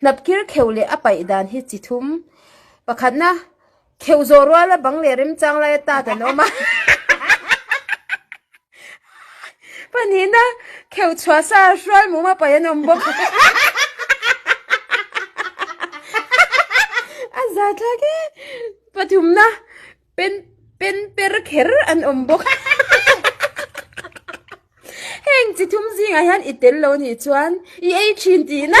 Hnabkir kheuh leh a paih dan hi chi thum pakhatna kheuh zawh ruala bang leh remchang laia tat an awm a. Panihna kheu chhuah sa hruai muma pai an awm bawk. A za thlak e. Pathumna pen pen per kher an awm bawk. Heng chi thum zingah hian i tel lo nih chuan i ei thin tihna.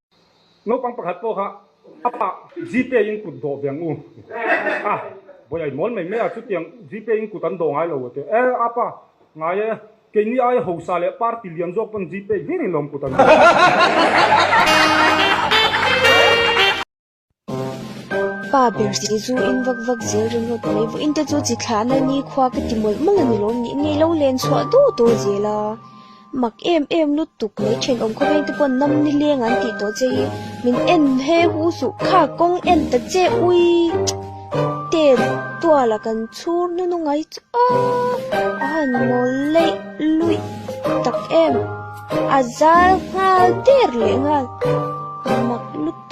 Naupang pakhat pawh kha a pa GPay in kut dawh veng u a, Bawiha i mawl mai mai a, chutiang GPay in kut an dawh ngai lo ati a, E apa, ngai e, keini aia hausa leh party lian zawk pawn GPay hlir in lawm kut an dawh. Pa Berzei chu in vak vak zel ringawt mai vawiin te chu chi thlahna nikhua ka ti mawlh mawlh a ni lo nih ngei lo len chhuah duh duh zel a mak em em lutuk mai then awm khawp a te pawh nam ni leng an tih tawh che hi min en he hu suh kha kawng en ta che ui ten tual a kan chhur nun a ngai chu a a han nawl laih luih tak em a zal nghal der leh nghal mak lutuk.